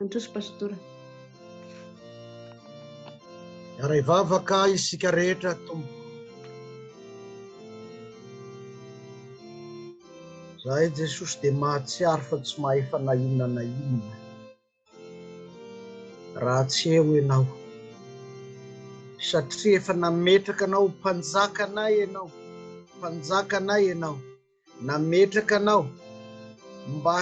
Mandroso Pastora. Miara ivavaka isika rehetra Tompo. Zahay Jesosy dia mahatsiaro fa tsy mahefa na inona na inona raha tsy eo Ianao. Satria efa nametraka anao ho mpanjakanay Ianao, mpanjakanay Ianao. nametraka anao mba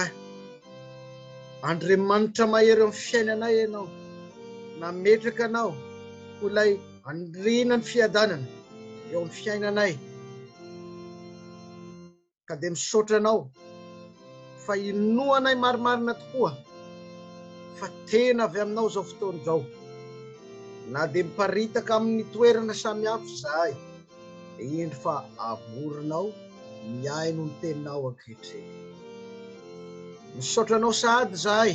Andriamanitra mahery amin'ny fiainanay ianao, nametraka anao ho ilay andriana ny fiadanana eo amin'ny fiainanay. Ka dia misaotra anao fa inoanay marimarina tokoa fa tena avy aminao izao fotoana izao. Na dia miparitaka amin'ny toerana samihafa izahay, Indro fa amoronao mihaino ny teninao ankehitriny. Misaotra anao sahady izahay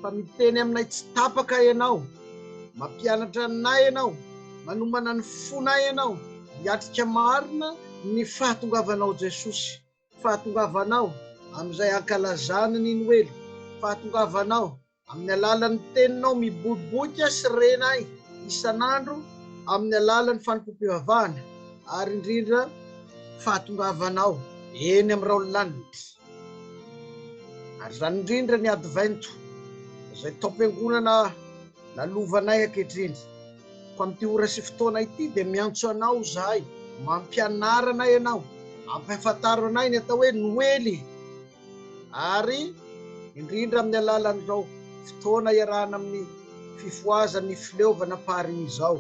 fa miteny aminay tsy tapaka ianao, mampianatra anay ianao, manomana ny fonay ianao hiatrika marina ny fahatongavanao Jesosy, fahatongavanao amin'izay hankalazany ny Noely, fahatongavanao Amin'ny alalan'ny Teninao miboiboika sy rena ahy isan'andro amin'ny alalan'ny fanompoam-pivavahana ary indrindra fahatongavanao eny amin'ny raolanitra. Ary izany indrindra ny Advento izay taom-piangonana lalovanay ankehitriny. Koa amin'ity ora sy fotoana ity dia miantso Anao izahay, mampianara anay Ianao, ampahafantaro anay ny atao hoe Noely. ary indrindra amin'ny alalan'izao fotoana iarahana amin'ny fifohazan'ny fileovana Paris izao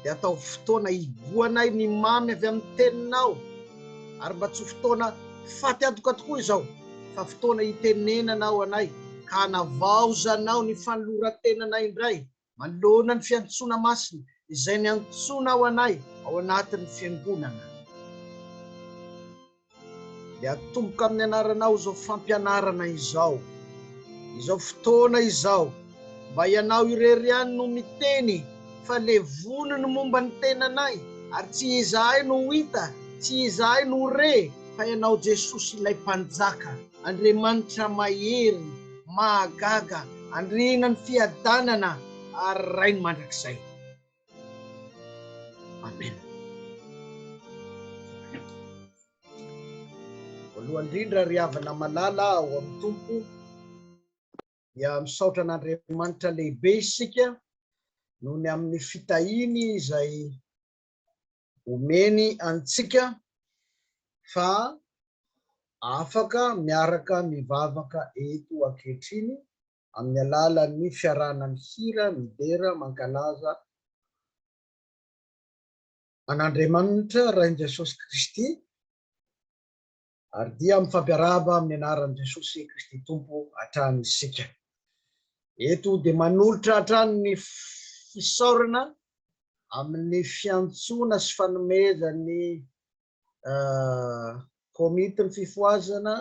dia ataovy fotoana higoanay ny mamy avy amin'ny teninao ary mba tsy ho fotoana faty antoka tokoa izao fa fotoana hitenenanao anay ka hanavaozanao ny fanolorantenanay indray Manoloana ny fiantsoana masina izay niantsonao anay ao anatin'ny Fiangonana, dia atomboka amin'ny Anaranao izao fampianarana izao, izao fotoana izao, mba Ianao irery ihany no miteny fa levolo ny momba ny tenanay, ary tsy izahay no ho hita, tsy izahay no ho re, fa Ianao Jesosy ilay Mpanjaka, Andriamanitra mahery. mahagaga andriana ny fiadanana ary rainy mandrakizay amen voalohany indrindra ry havana malala ao amin'ny tompo dia misaotra an'andriamanitra lehibe isika noho ny amin'ny fitahiny izay Omeny antsika fa afaka miaraka mivavaka eto ankehitriny amin'ny alalan'ny fiarahana mihira, midera, mankalaza an'Andriamanitra Rain'i Jesosy Kristy, Ary dia mifampiarahaba amin'ny anaran'i Jesosy Kristy Tompo hatrany isika. Eto dia manolotra hatrany ny fisaorana amin'ny fiantsoana sy fanomezan'ny Komitin'ny Fifohazana,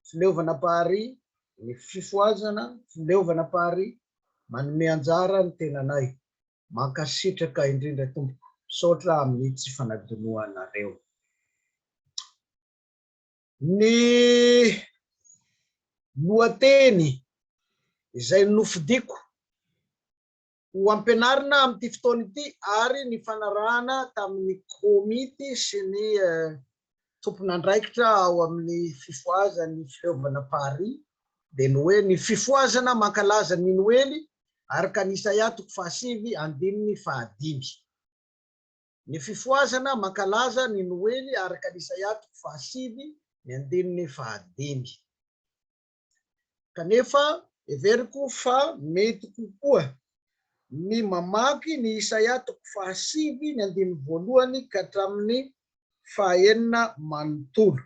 Fileovana Pari, ny Fifohazana, Fileovana Pari, manome anjara ny tenanay. Mankasitraka indrindra tompoko, misaotra amin'ny tsy fanadinoanareo. Ny lohateny izay nofidiko ho ampianarina amin'ity fotoana ity ary nifanarahana tamin'ny komity sy ny tompon'andraikitra ao amin'ny fifohazan'ny fileovana Paris dia ny hoe ny fifohazana mankalaza ny Noely araka ny Isaia toko fahasivy andininy fahadimy. Ny fifohazana mankalaza ny Noely araka ny Isaia toko fahasivy ny andininy fahadimy. Kanefa, heveriko fa mety kokoa ny mamaky ny Isaia toko fahasivy ny andininy voalohany ka hatramin'ny fahaenina manontolo.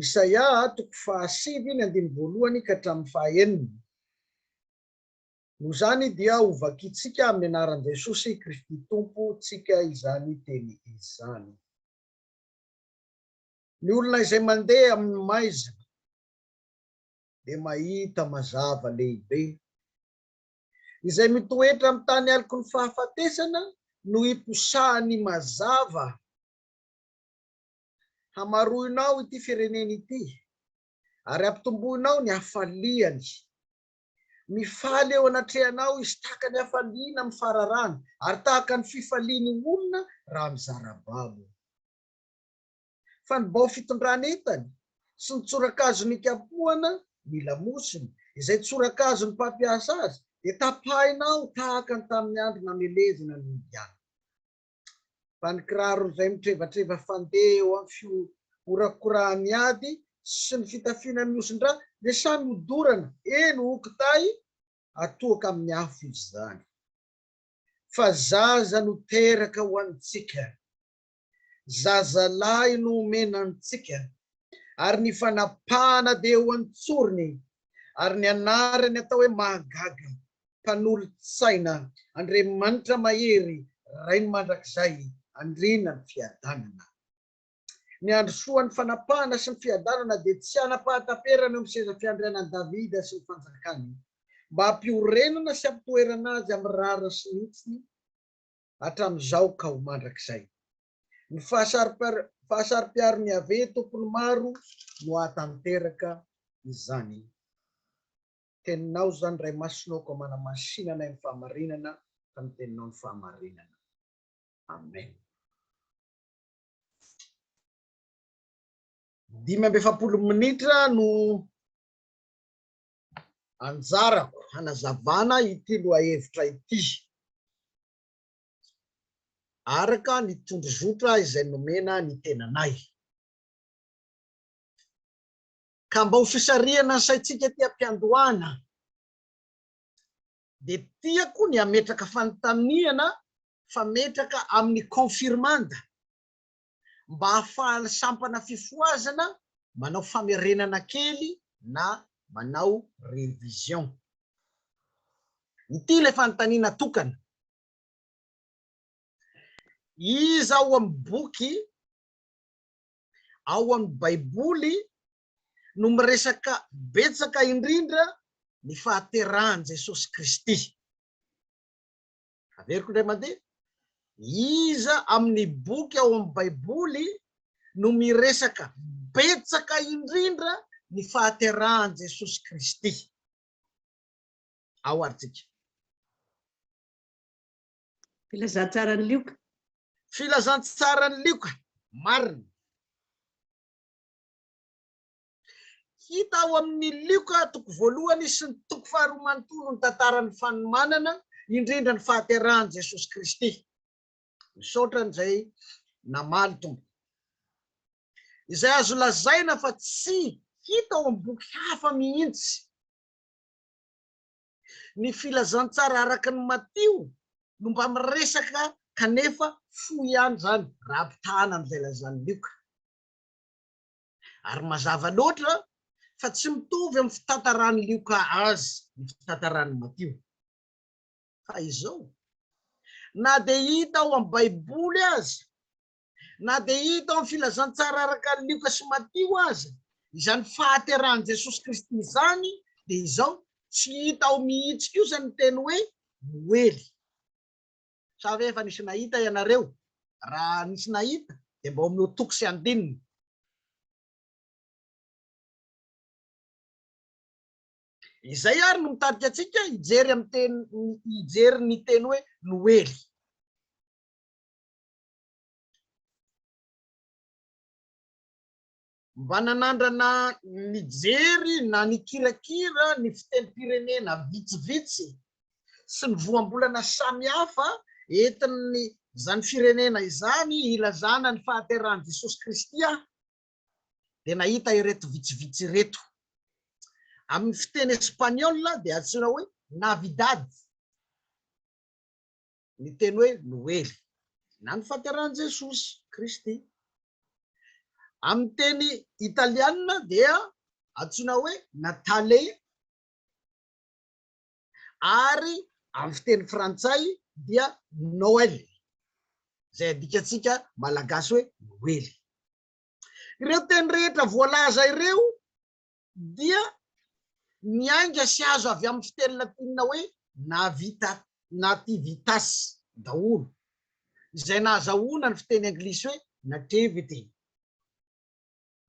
Isaia toko fahasivy ny andininy voalohany ka hatramin'ny fahaenina. Noho izany dia hovakintsika amin'ny anaran'i Jesosy Kristy Tompontsika izany teny izany. Ny olona izay mandeha amin'ny maizina dia mahita mazava lehibe. Izay mitoetra amin'ny tany aloky ny fahafatesana no hiposahan'ny mazava. Hamaroinao ity firenena ity ary hampitomboinao ny hafaliany. Mifaly eo anatrehanao izy tahaka ny hafaliana amin'ny fararano ary tahaka ny fifalian'ny olona raha mizara babo. fa ny bao fitondrana entany sy ny tsorakazo nikapohana ny lamosiny, izay tsorakazon'ny mpampiasa azy, dia tapahina ao tahaka ny tamin'ny andro namelezana ny Indiana. Fa ny kiraron'izay mitrevatreva fandeha eo amin'ny fihorakorahan'ny ady sy ny fitafiana mihosin-drà dia samy hodorana, eny, ho kitay atohoka amin'ny afo izy izany. Fa zaza no teraka ho antsika. zazalahy no omena antsika, ary ny fanapahana dia eo an-tsorony, ary ny anarany atao hoe Mahagaga, Mpanolo-tsaina, Andriamanitra Mahery, Rainy Mandrakizay, Andriana ny Fiadanana. Ny handrosoan'ny fanapahana sy ny fiadanana dia tsy hanam-pahataperana eo amin'ny seza fiandrianan'i Davida sy ny fanjakany, mba hampiorenana sy hampitoerana azy amin'ny rariny sy ny hitsiny, hatramin'izao ka ho mandrakizay. Ny fahasaro-piaron'i Yaveh Tompon'ny maro no hahatanteraka izany. Teninao izany Ray Masinao koa manamansina anay amin'ny fahamarinana fa ny Teninao no fahamarinana. Amen. Dimy amby efapolo minitra no anjarako hanazavana ity lohahevitra ity araka ny tondrozotra izay nomena ny tenanay. Ka mba ho fisarihana ny saintsika ety am-piandohana dia tiako ny hametraka fanontaniana fametraka amin'ny confirmanda mba hahafahan'ny sampana fifohazana manao famerenana kely na manao révision. Ity ilay fanontaniana tokana. Iza ao amin'ny boky ao amin'ny Baiboly no miresaka betsaka indrindra ny fahaterahan'i Jesosy Kristy? Averiko indray mandeha, iza amin'ny boky ao amin'ny Baiboly no miresaka betsaka indrindra ny fahaterahan'i Jesosy Kristy? Ao ary tsika. Filazantsaran'i Lioka. Filazantsaran'i Lioka, marina. Hita ao amin' ny Lioka toko voalohany sy ny toko faharoa manontolo ny tantaran' ny fanomanana, indrindra ny fahaterahan' i Jesosy Kristy. Misaotra an'izay namaly tompoko. Izay azo lazaina fa tsy hita ao amin'ny boky hafa mihitsy. Ny Filazantsara araka an'i Matio no mba miresaka kanefa fohy ihany izany raha ampitahaina amin'izay lazan'i Lioka. ary mazava loatra fa tsy mitovy amin'ny fitantaran'i Lioka azy ny fitantaran'i Matio. Fa izao, na dia hita ao amin'ny Baiboly aza, na dia hita ao amin'ny filazantsara araka an'i Lioka sy Matio aza, izany fahaterahan'i Jesosy Kristy izany, dia izao, tsy hita ao mihitsy kosa ny teny hoe noely. sa ve efa nisy nahita ianareo? Raha nisy nahita dia mba omeo toko sy andininy. Izay ary no mitarika antsika hijery amin'ny teny hijery ny teny hoe noely. mba nanandrana nijery na nikirakira ny fitenim-pirenena vitsivitsy sy ny voambolana samihafa entin' izany firenena izany hilazana ny fahaterahan'i Jesosy Kristy aho, dia nahita ireto vitsivitsy ireto. Amin' ny fiteny espaniôla dia antsoina hoe Navidad. ny teny hoe Noely na ny fahaterahan'i Jesosy Kristy. Amin'ny teny italiana dia antsoina hoe Natale ary amin'ny fiteny frantsay dia Noël, izay adikantsika malagasy hoe Noely. Ireo teny rehetra voalaza ireo dia miainga sy azo avy amin'ny fiteny latinina hoe navita, nativitas, daholo, izay nahazahoana ny fiteny anglisy hoe nativity,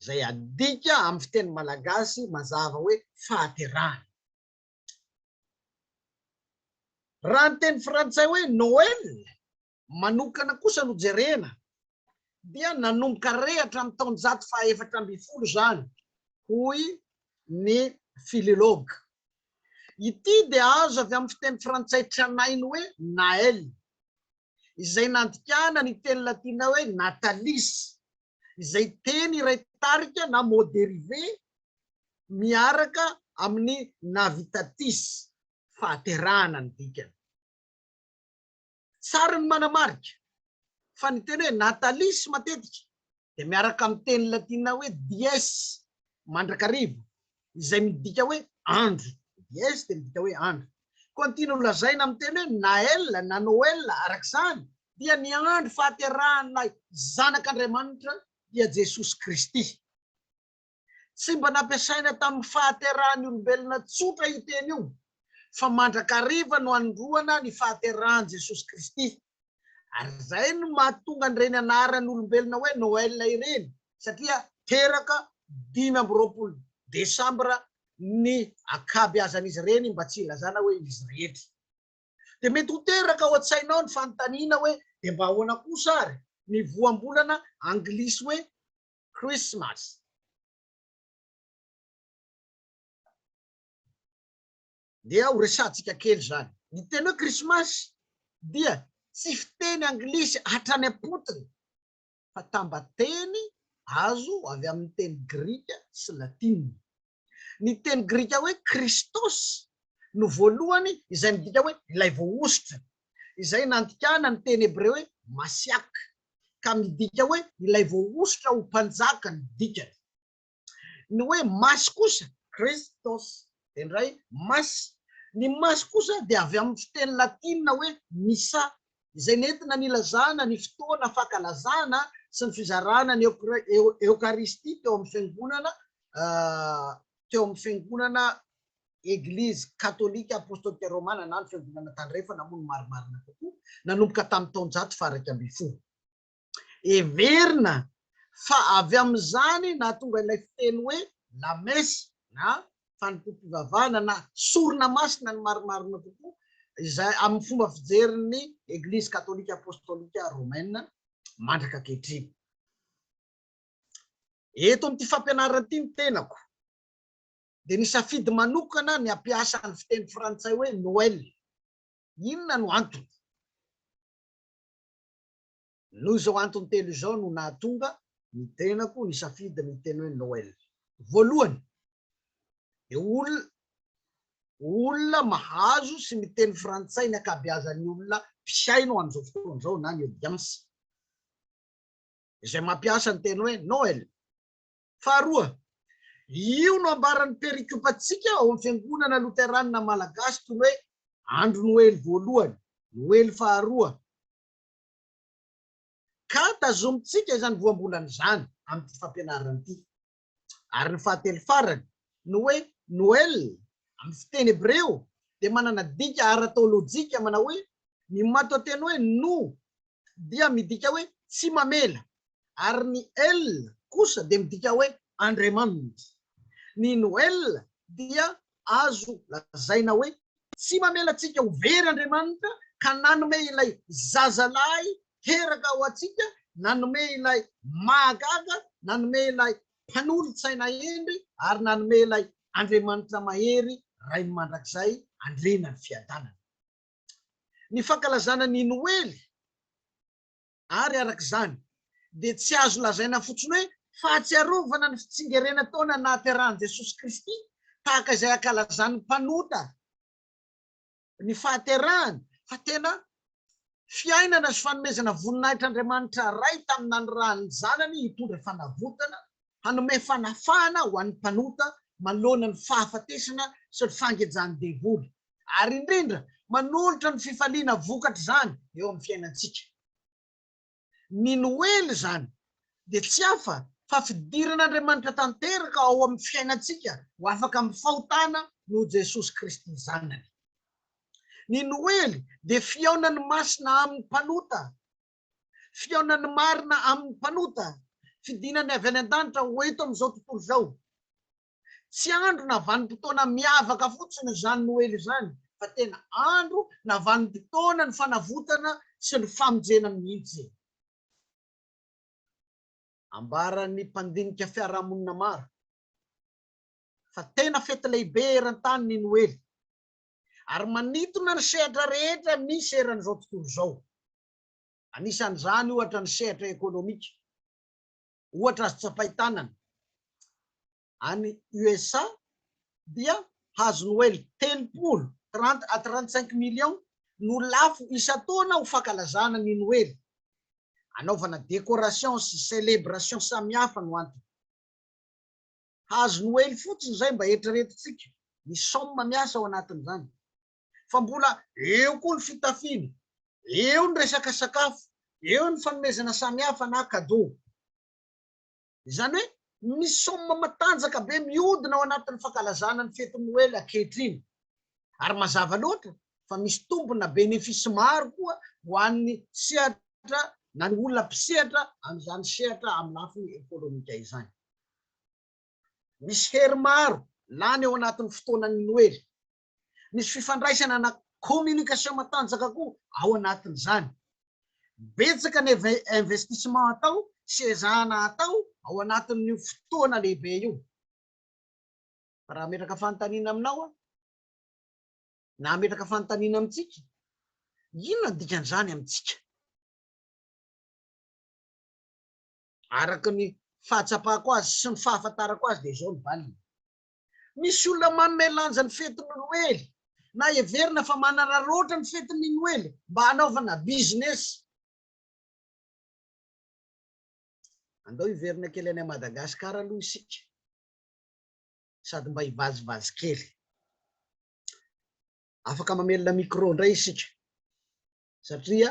izay adika amin'ny fiteny malagasy mazava hoe fahaterahana. Raha ny teny frantsay hoe Noël manokana kosa no jerena dia nanomboka rehatra amin'ny taonjato fahaefatra ambin'ny folo izany, hoy ny filologue. Ity dia azo avy amin'ny fiteny frantsay tranainy hoe Naël, izay nandikana ny teny latina hoe natalis, izay teny iray tarika na mot dérivé miaraka amin'ny navitatis, fahaterahana ny dikany. Sary no manamarika fa ny teny hoe natalis matetika dia miaraka amin'ny teny latina hoe dies, mandrakariva, izay midika hoe andro, dies dia midika hoe andro. Koa ny tiana holazaina amin'ny teny hoe nael na noel araka izany dia ny andro fahaterahan'ilay Zanak'Andriamanitra dia Jesosy Kristy. Tsy mba nampiasaina tamin'ny fahaterahan'ny olombelona tsotra io teny io, fa mandrakariva no anondroana ny fahaterahan'i Jesosy Kristy. Ary izay no mahatonga an'ireny anaran'olombelona hoe Noël ireny, satria teraka dimy amby roapolo desambra ny ankabeazan'izy ireny mba tsy hilazana hoe izy rehetra. Dia mety ho teraka ao an-tsainao ny fanontaniana hoe dia mba ahoana kosa ary ny voambolana anglisy hoe Christmas. Dia ho resahantsika kely izany. Ny teny hoe Christmas dia tsy fiteny anglisy hatrany am-potony fa tambateny azo avy amin'ny teny grika sy latina. Ny teny grika hoe Kristos no voalohany izay midika hoe ilay voahosotra, izay nandikana ny teny hebreo hoe Masiak, ka midika hoe ilay voahosotra ho mpanjaka no dikany. Ny hoe Masy kosa, Christos, dia indray Masy. Ny Masy kosa dia avy amin'ny fiteny latina hoe Missa, izay nentina nilazana ny fotoana fankalazana sy ny fizarana ny Eokaristia teo amin'ny Fiangonana teo amin'ny Fiangonana Eglizy Katolika Apostolika Romana na ny Fiangonana Tandrefana moa no marimarina kokoa, nanomboka tamin'ny taonjato faha iraika ambin'ny folo. Heverina fa avy amin'izany nahatonga ilay fiteny hoe lamesa na fanompoam-pivavahana na sorona masina ny marimarina kokoa, izay amin'ny fomba fijerin'ny Eglizy Katolika Apostolika Romaine mandraka ankehitriny. Eto amin'ity fampianarana ity ny tenako dia nisafidy manokana ny hampiasa ny fiteny frantsay hoe Noël. Inona no antony? Noho izao antony telo izao no nahatonga ny tenako nisafidy ny teny hoe Noel. Voalohany, dia olona olona mahazo sy miteny frantsay ny ankabeazan'ny olona mpihaino amin'izao fotoana izao na ny audience, izay mampiasa ny teny hoe Noel. Faharoa, io no ambaran'ny perikopantsika ao amin'ny Fiangonana Loteranina Malagasy toy ny hoe Andro Noely voalohany, Noely faharoa, Ka tazomintsika izany voambolana izany amin'ity fampianarana ity. Ary ny fahatelo farany, ny hoe Noel amin'ny fiteny hebreo dia manana dika ara-teolojika manao hoe ny matoanteny hoe no dia midika hoe tsy mamela ary ny el kosa dia midika hoe Andriamanitra. Ny Noel dia azo lazaina hoe tsy mamela antsika ho very Andriamanitra ka nanome ilay zazalahy teraka ho antsika, nanome ilay mahagaga, nanome ilay mpanolo-tsaina hendry ary nanome ilay Andriamanitra mahery Rainy mandrakizay andriana ny fiadanana. Ny fankalazana ny Noely. ary araka izany dia tsy azo lazaina fotsiny hoe fahatsiarovana ny fitsingerena taona nahaterahan'i Jesosy Kristy tahaka izay ankalazan'ny mpanota ny fahaterahany fa tena fiainana sy fanomezana voninahitra Andriamanitra Ray tamin'ny nanirahan'ny Zanany hitondra fanavotana, hanome fanafahana ho an'ny mpanota manoloana ny fahafatesana sy ny fangejan'ny devoly. ary indrindra manolotra ny fifaliana vokatr'izany eo amin'ny fiainantsika. Ny Noely izany dia tsy hafa fa fidiran'Andriamanitra tanteraka ao amin'ny fiainantsika ho afaka amin'ny fahotana noho Jesosy Kristy Zanany. Ny Noely dia fihaonan'ny masina amin'ny mpanota, fihaonan'ny marina amin'ny mpanota, fidinany avy any an-danitra ho eto amin'izao tontolo izao. Tsy andro na vanim-potoana miavaka fotsiny izany Noely izany fa tena andro na vanim-potoanan'ny fanavotana sy ny famonjena mihitsy. Ambaran'ny mpandinika fiarahamonina maro fa tena fety lehibe eran-tany ny Noely ary manintona ny sehatra rehetra misy eran'izao tontolo izao. Anisan'izany ohatra ny sehatra ekonomika. ohatra azo tsapain-tanana any USA dia hazo noely telopolo, trente à trente cinq millions, no lafo isan-taona ho fankalazana ny noely. Anaovana décoration sy celebration samihafa no antony. Hazo noely fotsiny izay mba eritreretintsika ny somme miasa ao anatin'izany. fa mbola eo koa ny fitafiana, eo ny resaka sakafo, eo ny fanomezana samihafa na cadeau. Izany hoe misy somme matanjaka be mihodina ao anatin'ny fankalazana ny fetin'ny Noely ankehitriny. Ary mazava loatra fa misy tombony na bénéfice maro koa ho an'ny sehatra na ny olona mpisehatra amin'izany sehatra amin'ny lafiny ekonomika izany. Misy hery maro lany ao anatin'ny fotoanan'ny Noely. Misy fifandraisana na communication matanjaka koa ao anatin'izany. Betsaka ny investissement atao sy ezahana atao ao anatin'io fotoana lehibe io. Fa raha hametraka fanontaniana aminao aho, na hametraka fanontaniana amintsika, inona ny dikan'izany amintsika? Araka ny fahatsapako azy sy ny fahafantarako azy dia izao ny valiny. Misy olona manome lanja ny fetin'ny Noely na heverina fa manararaotra ny fetin'ny Noely mba hanaovana business. Andao hiverina kely any Madagascar aloha isika sady mba hivazivazy kely. Afaka mamelona micro indray isika satria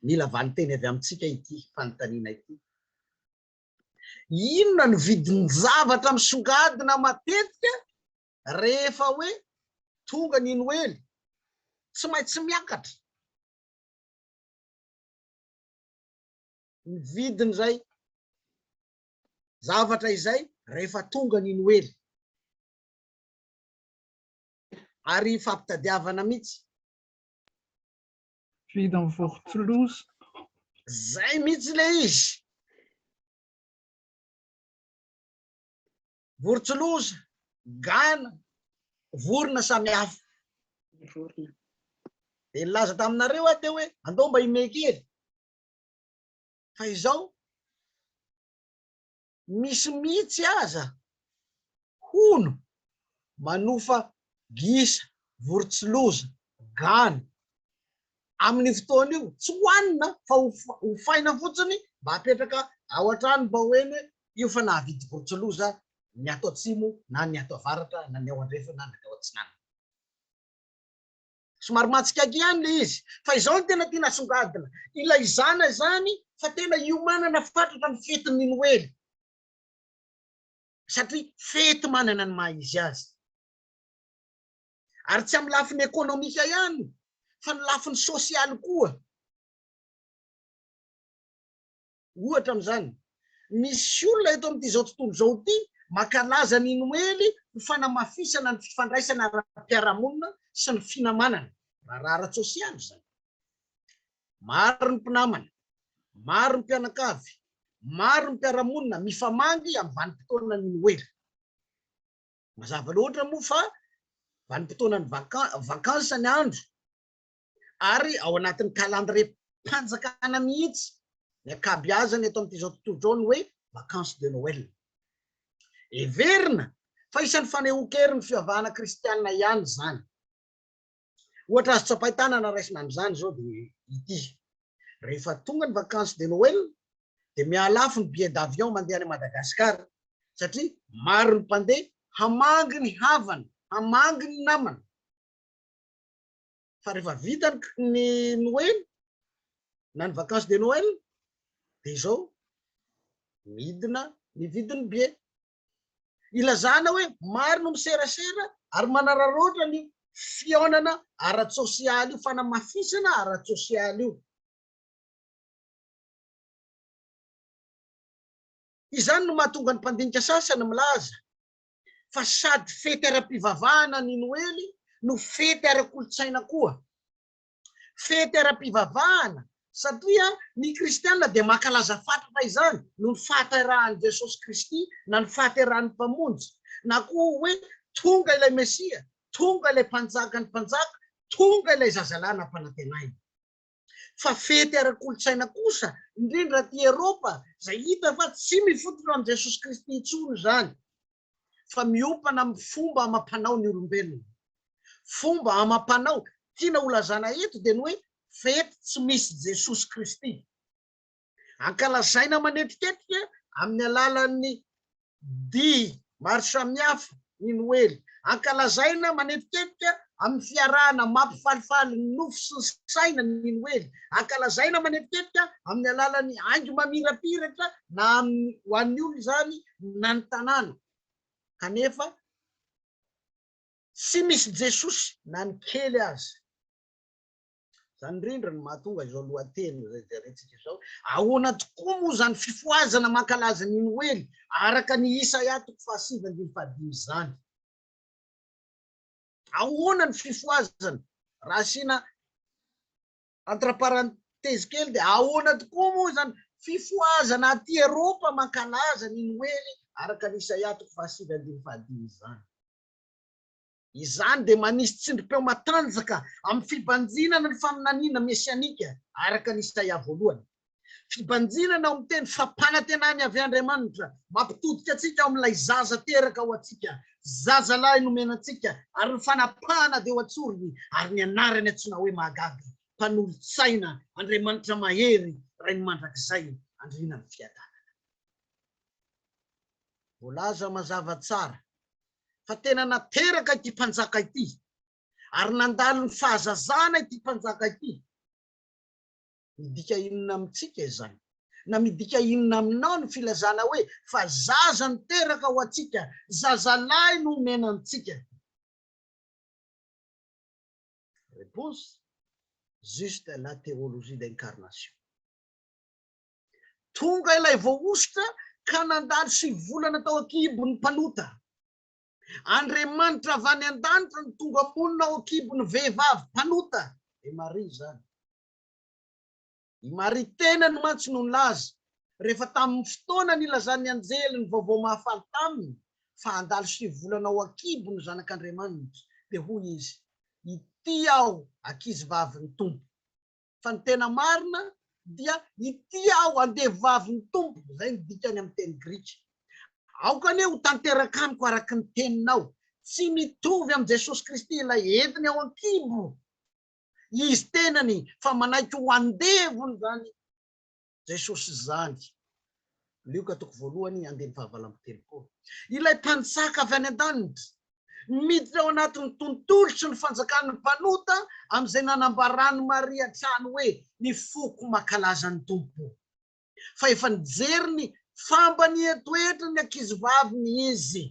mila valinteny avy amintsika ity fanontaniana ity. Inona no vidin-javatra misongadina matetika rehefa hoe tonga ny Noely? Tsy maintsy miakatra ny vidin'izay zavatra izay rehefa tonga ny Noely. Ary fampitadiavana mihitsy. Vide en vortlos. Zay mihitsy le izy. Vortlos, gana, vorona samy hafa. Vorona. Dia nilaza taminareo aho teo hoe andao mba himehy kely. Fa izao misy mihitsy aza, hono, manofa gisa, vorontsiloza, gana. Amin'io fotoana io, tsy hohanina fa hofaina fotsiny mba hapetraka ao an-trano mba ho eny io fa nahavidy vorontsiloza ny ato atsimo na ny ato avaratra na ny ao andrefana na ny ao atsinanana. Somary mahatsikaiky ihany le izy fa izao no tena tiana asongadina, ilaizana izany fa tena hiomanana fatratra ny fetin'ny Noely satria fety manana ny maha izy azy. Ary tsy amin'ny lafiny ekonomika ihany fa ny lafiny sosialy koa. Ohatra amin'izany, misy olona eto amin'izao tontolo izao ity mankalaza ny Noely ho fanamafisana ny fifandraisana ara-piarahamonina sy ny finamanana, raharaha ara-tsosialy izany. Maro ny mpinamana, maro ny mpianakavy, maro ny mpiara-monina mifamangy amin'ny vanim-potoanan'ny Noely. Mazava loatra moa fa vanim-potoanan'ny vakansa ny andro. ary ao anatin'ny kalandriem-panjakana mihitsy ny ankabeazany eto amin'ity izao tontolo izao ny hoe vacances de Noël. Heverina fa isan'ny fanehoan-kerin'ny fivavahana kristianina ihany izany. Ohatra azo tsapain-tanana raisina amin'izany izao dia ity. Rehefa tonga ny vacances de Noël dia mihalafo ny billet d'avion mandeha any Madagasikara satria maro ny mpandeha hamangy ny havany, hamangy ny namany. fa rehefa vita ny noely na ny vacance de noel de izao midina ny vidiny bie ilazana hoe maro no miserasera ary manararoatra ny fiaonana ara-tsosialy io fanamafisana ara-tsosialy io izany no mahatonga ny mpandinika sasany milaza fa sady fety ara-pivavahana ny Noely no fety ara-kolontsaina koa. Fety ara-pivavahana satria ny kristiana dia mankalaza fatratra izany noho ny fahaterahan'i Jesosy Kristy na ny fahaterahan'ny Mpamonjy na koa hoe tonga ilay Mesia, tonga ilay Mpanjakan'ny mpanjaka, tonga ilay Zazalahy nampanantenaina. fa fety ara-kolontsaina kosa, indrindra aty Eropa, izay hita fa tsy mifotona amin'i Jesosy Kristy intsony izany, fa miompana amin'ny fomba amam-panao ny olombelona. Fomba amam-panao tiana holazana eto dia ny hoe fety tsy misy Jesosy Kristy. Ankalazaina manetiketika amin'ny alalan'ny dihy maro samihafa ny Noely. Ankalazaina manetiketika amin'ny fiarahana mampifalifaly ny nofo sy ny saina ny Noely. Ankalazaina manetiketika amin'ny alalan'ny haingo mamirapiratra na amin'ny ho an'ny olona izany na ny tanàna. Kanefa tsy misy Jesosy na ny kely aza. Izany indrindra no mahatonga izao lohateny izay jerentsika izao. Ahoana tokoa moa izany fifohazana mankalaza ny Noely araka ny Isaia toko fahasivy andininy fahadimy izany? Ahoana ny fifohazana? Raha asiana entre parenthèse kely dia ahoana tokoa moa izany fifohazana aty Eropa mankalaza ny Noely araka ny Isaia toko fahasivy andininy fahadimy izany? Izany dia manisy tsindrim-peo matanjaka amin'ny fibanjinana ny faminaniana mesianika araka ny Isaia voalohany. Fibanjinana ao amin'ny teny fampanantenany avy Andriamanitra mampitodika antsika ao amin'ilay zaza teraka ho antsika, zazalahy nomena antsika, ary ny fanapahana dia ho an-tsorony, ary ny anarany antsoina hoe Mahagaga, Mpanolo-tsaina, Andriamanitra Mahery, Rain'ny Mandrakizay, Andrianan'ny Fiadanana. Voalaza mazava tsara fa tena nateraka ity mpanjaka ity ary nandalo ny fahazazana ity mpanjaka ity. Midika inona amintsika izany? Na midika inona aminao ny filazana hoe fa zaza no teraka ho antsika, zazalahy no omena antsika? Réponse, Juste la théologie d'incarnation. Tonga ilay voahosotra ka nandalo sivy volana tao an-kibon'ny mpanota. Andriamanitra avy any an-danitra no tonga monina ao an-kibon'ny vehivavy mpanota, dia Maria izany. I Maria tenany mantsy no nilaza, rehefa tamin'ny fotoana nilazan'ny anjely ny vaovao mahafaly taminy, fa handalo sivy volana ao an-kibo ny Zanak'Andriamanitra, dia hoy izy, Ity aho, ankizivavin'ny Tompo. fa ny tena marina dia ity aho andevavin'ny Tompo, izay no dikany amin'ny teny grika. Aoka anie ho tanteraka amiko araka ny teninao. Tsy mitovy amin'i Jesosy Kristy ilay entiny ao an-kibo Izy tenany fa manaiky ho andevony izany Jesosy izany. Lioka toko voalohany andininy fahavalo amby telopolo. Ilay Mpanjaka avy any an-danitra, miditra ao anatin'ny tontolo sy ny fanjakan'ny mpanota amin'izay nanambaran'i Maria hatrany hoe ny foko mankalaza ny Tompo. Fa efa nijery ny fambany etoetran'ny ankizivaviny izy.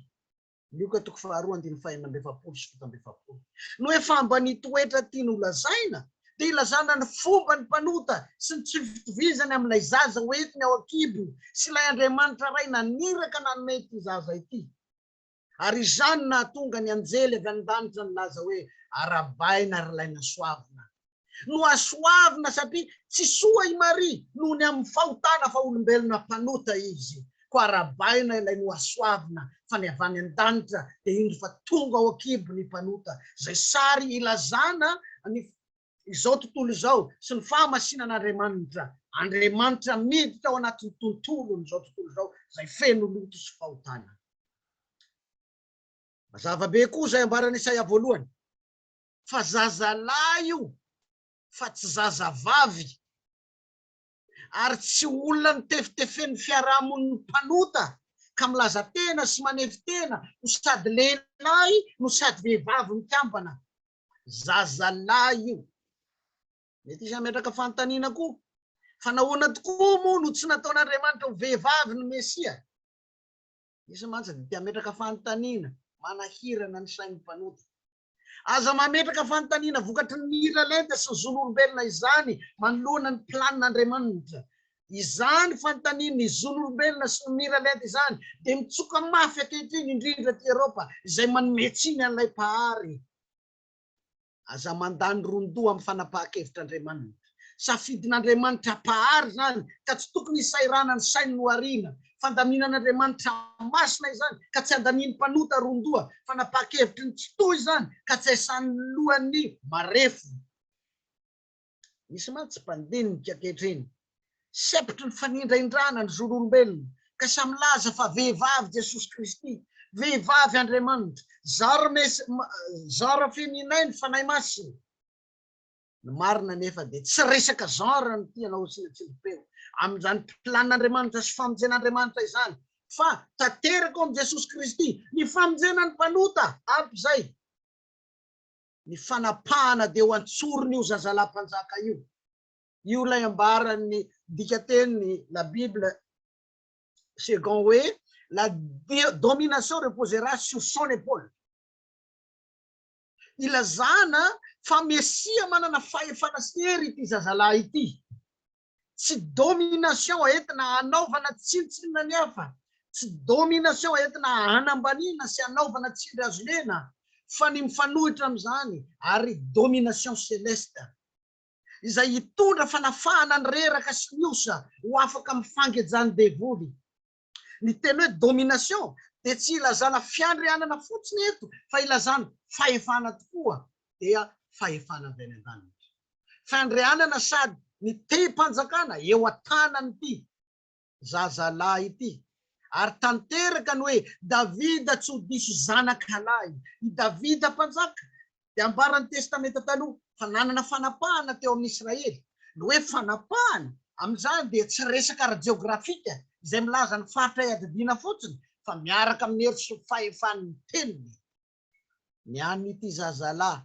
Lioka toko faharoa andininy fahenina amby efapolo sy fito amby efapolo. No hoe fa mba ny toetra tiany ho lazaina dia ilazana ny fomba ny mpanota sy ny tsy fitovizany amin'ilay zaza ho entiny ao an-kibo sy ilay Andriamanitra Ray naniraka nanome ity zaza ity. Ary izany nahatonga ny anjely avy an-danitra nilaza hoe, Arabaina ry lahy nasoavina. Nohasoavina satria tsy soa i Maria noho ny amin'ny fahotana fa olombelona mpanota izy. Koa arahabaina ilay nohasoavina fa ny avy any an-danitra dia indro fa tonga ao an-kibo ny mpanota, izay sary ilazana ny izao tontolo izao sy ny fahamasinan'Andriamanitra, Andriamanitra miditra ao anatin'ny tontolon'izao tontolo izao izay feno loto sy fahotana. Mazava be koa izay ambaran'i Isaia voalohany. fa zazalahy io fa tsy zazavavy ary tsy olona notefitefen'ny fiarahamonin'ny mpanota ka milaza tena sy manefy tena ho sady lehilahy no sady vehivavy mikambana. Zazalahy io. Mety hisy hametraka fanontaniana koa fa nahoana tokoa moa no tsy nataon'Andriamanitra ho vehivavy ny Mesia? Misy mantsy dia te hametraka fanontaniana manahirana ny sain'ny mpanota. Aza mametraka fanontaniana vokatry ny mila lenta sy ny zon'olombelona izany manoloana ny planin'Andriamanitra. Izany fanontaniana ny zon'olombelona sy ny mila lenta izany dia mitsoka mafy ankehitriny indrindra aty Eropa izay manome tsiny an'ilay Mpahary. Aza mandany ron-doha amin'ny fanapahan-kevitr'Andriamanitra. Safidin'Andriamanitra Mpahary izany ka tsy tokony hisahirana ny sainy no ariana. Fandaminan'Andriamanitra masina izany ka tsy andanian'ny mpanota ron-doha. Fanapahan-kevitry ny tsitoha izany ka tsy haisanin'ny lohan'ny marefo. Misy mantsy mpandinika ankehitriny sepotry ny fanindraindrana ny zon'olombelona ka samy milaza fa vehivavy Jesosy Kristy, vehivavy Andriamanitra, zara mes, zara feminine Fanahy Masina. Ny marina anefa dia tsy resaka genre no tiana hosiana tsindrim-peo amin'izany plan'Andriamanitra sy famonjen'Andriamanitra izany fa tanteraka ao amin'i Jesosy Kristy ny famonjena ny mpanota, ampy izay ny fanapahana dia ho antsorin'io zazalahy mpanjaka io. Io ilay ambaran'ny dikateny La Bible Second hoe la domination reposera sur son épaule. ilazana fa mesia manana fahefana sy hery ity zazalahy ity. Tsy domination entina hanaovana tsinontsinona ny hafa, tsy domination entina hanambaniana sy hanaovana tsindry azo lena, fa ny mifanohitra amin'izany ary domination celeste, izay hitondra fanafahana ny reraka sy ny osa ho afaka amin'ny fangejan'ny devoly. Ny teny hoe domination dia tsy ilazana fiandrianana fotsiny eto fa ilazana fahefana tokoa dia fahefana avy any an-danitra. Fandrianana sady nitehim-panjakana eo an-tanan'ity zazalahy ity. Ary tanteraka ny hoe Davida tsy ho diso zanaka lahy. I Davida mpanjaka dia ambaran'ny Testamenta Taloha fa nanana fanapahana teo amin'ny Israely. Ny hoe fanapahana amin'izany dia tsy resaka ara-jeografika izay milaza ny faritra iadidiana fotsiny fa miaraka amin'ny hery sy fahefan'ny teniny. Ny an'ity zazalahy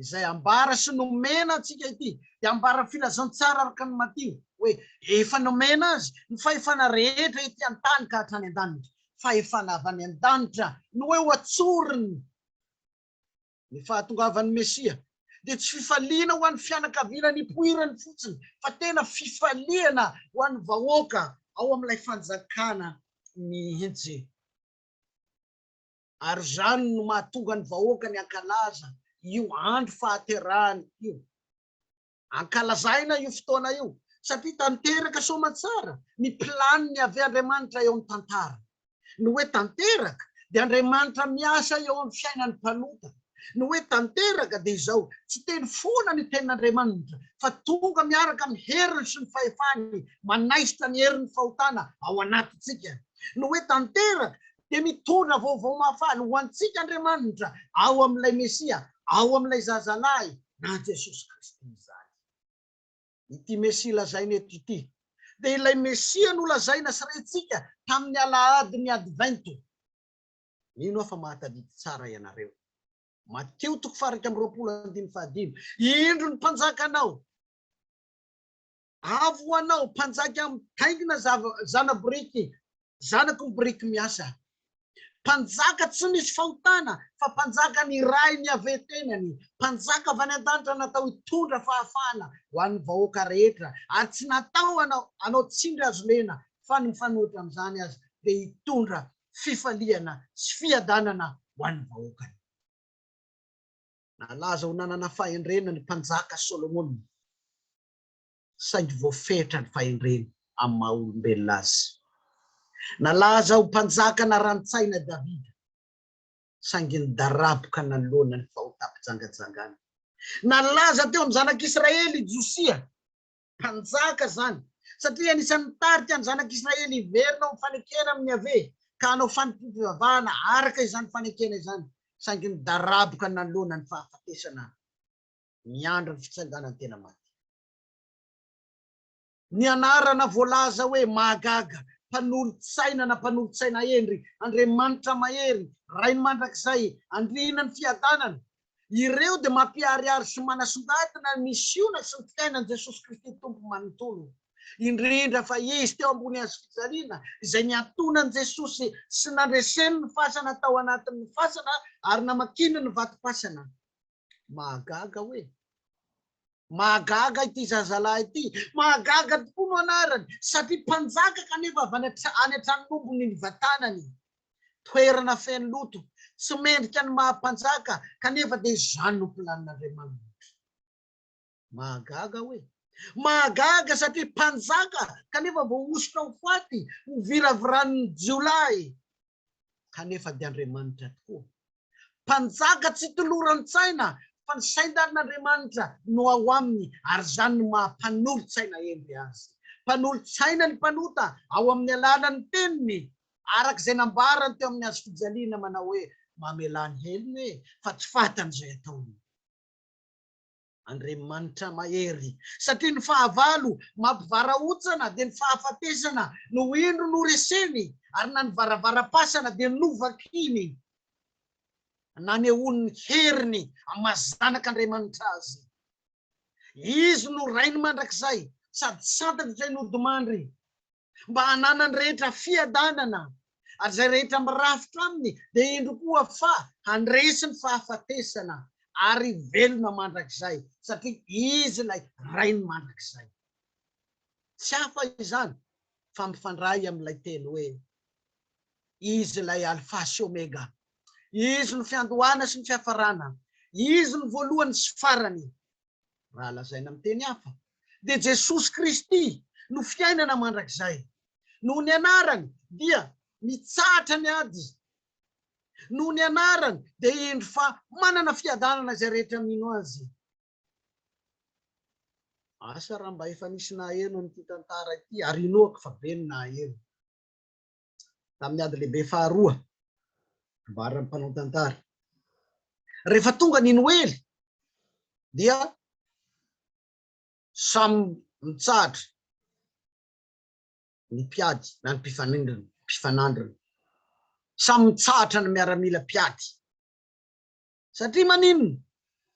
izay ambara sy nomena antsika ity dia ambaran'ny filazantsara araka ny Matio hoe efa nomena azy ny fahefana rehetra ety an-tany ka hatrany an-danitra. Fahefana avy any an-danitra no eo an-tsoriny. Ny fahatongavan'ny Mesia dia tsy fifaliana ho an'ny fianakaviana nipoirany fotsiny, fa tena fifaliana ho an'ny vahoaka ao amin'ilay Fanjakana mihitsy. Ary izany no mahatonga ny vahoakany hankalaza io andro fahaterahany io. Ankalazaina io fotoana io satria tanteraka soamantsara ny planiny Yaveh Andriamanitra eo amin'ny tantara. Ny hoe tanteraka dia Andriamanitra miasa eo amin'ny fiainan'ny mpanota. Ny hoe tanteraka dia izao, tsy teny foana ny tenin'Andriamanitra fa tonga miaraka amin'ny heriny sy ny fahefany manaisotra ny herin'ny fahotana ao anatintsika. Ny hoe tanteraka dia mitondra vaovao mahafaly ho antsika Andriamanitra ao amin'ilay Mesia, ao amin'ilay Zazalahy na Jesosy Kristy izany. Ity Mesia lazaina eto ity dia ilay Mesia nolazaina sy rentsika tamin'ny Alahadin'ny Advento. Mino aho fa mahatadidy tsara ianareo. Mateo toko faha iraika amby roapolo andininy faha dimy, Indro ny Mpanjakanao! Avo ho anao, mpanjaka mitaingina zana-boriky, zanaky ny boriky miasa. Mpanjaka tsy misy fahotana, fa mpanjaka niray ny Yaveh tenany, mpanjaka avy any an-danitra natao hitondra fahafahana ho an'ny vahoaka rehetra, ary tsy natao hanao tsindry hazo lena, fa ny mifanohitra amin'izany aza dia hitondra fifaliana sy fiadanana ho an'ny vahoakany. Nalaza ho nanana fahendrena ny mpanjaka Solomona. saingy voafetra ny fahendreny amin'ny maha olombelona azy. Nalaza ho mpanjaka naran-tsaina Davida, saingy nidaraboka nanoloana ny fahotam-pijangajangana. Nalaza teo amin'ny zanak'Israely i Josia, mpanjaka izany, satria anisan'ny nitarika ny zanak'Israely hiverina ho mifanekena amin'i Yaveh ka hanao fanompoam-pivavahana araka izany fanekena izany, saingy nidaraboka nanoloana ny fahafatesana. miandry ny fitsanganan'ny tena maty. Ny anarana voalaza hoe mahagaga, Mpanolotsaina na Mpanolotsaina Hendry, Andriamanitra Mahery, Rainy Mandrakizay, Andriana ny Fiadanana, ireo dia mampiharihary sy manasongadina ny misiona sy ny fiainan'i Jesosy Kristy Tompo manontolo, indrindra fa Izy teo ambony hazo fijaliana, izay niantoana an'i Jesosy sy nandreseny ny fasana tao anatin'ny fasana ary namakiny ny vatom-pasana. Mahagaga hoe. Mahagaga ity zazalahy ity. Mahagaga tokoa no anarany satria mpanjaka kanefa avy any an-tranombony ny vatanany. Toerana feno loto, tsy mendrika ny maha mpanjaka kanefa dia izany no planin'Andriamanitra. Mahagaga aho e! Mahagaga satria mpanjaka kanefa voahosotra ho faty, hoviraviran'ny jiolahy kanefa dia Andriamanitra tokoa. Mpanjaka tsy toloran-tsaina fa ny saintanin'Andriamanitra no ao aminy ary izany no maha mpanolo-tsaina hendry azy. Mpanolo-tsaina ny mpanota ao amin'ny alalan'ny teniny araka izay nambarany teo amin'ny hazo fijaliana manao hoe, Mamelà ny helony e! fa tsy fatan'izay ataony. Andriamanitra mahery, satria ny fahavalo mampivarahontsana dia ny fahafatesana no indro noreseny, ary na ny varavaram-pasana dia novakiny nanehoany ny heriny amin'ny maha Zanak'Andriamanitra Azy. Izy no Rainy mandrakizay, sady santatra izay nodimandry. mba hananany rehetra fiadanana, ary izay rehetra mirafitra aminy dia indro koa fa handresy ny fahafatesana ary hivelona mandrakizay, satria Izy ilay Rainy mandrakizay. Tsy hafa izany fa mifandray amin'ilay teny hoe, Izy ilay Alfa sy Omega, Izy no fiandohana sy ny fiafarana, Izy no voalohany sy farany. Raha lazaina amin'ny teny hafa, dia Jesosy Kristy no fiainana mandrakizay. Noho ny anarany dia mitsahatra ny ady. Noho ny anarany dia hendry fa manana fiadanana izay rehetra mino Azy. Asa raha mba efa nisy naheno an'ity tantara ity ary inoako fa be ny naheno. tamin'ny ady lehibe faharoa, ambaran'ny mpanao tantara. Rehefa tonga ny Noely dia samy mitsahatra ny mpiady na ny mpifanindrina, mpifanandrina. Samy mitsahatra ny miaramila mpiady. Satria maninona?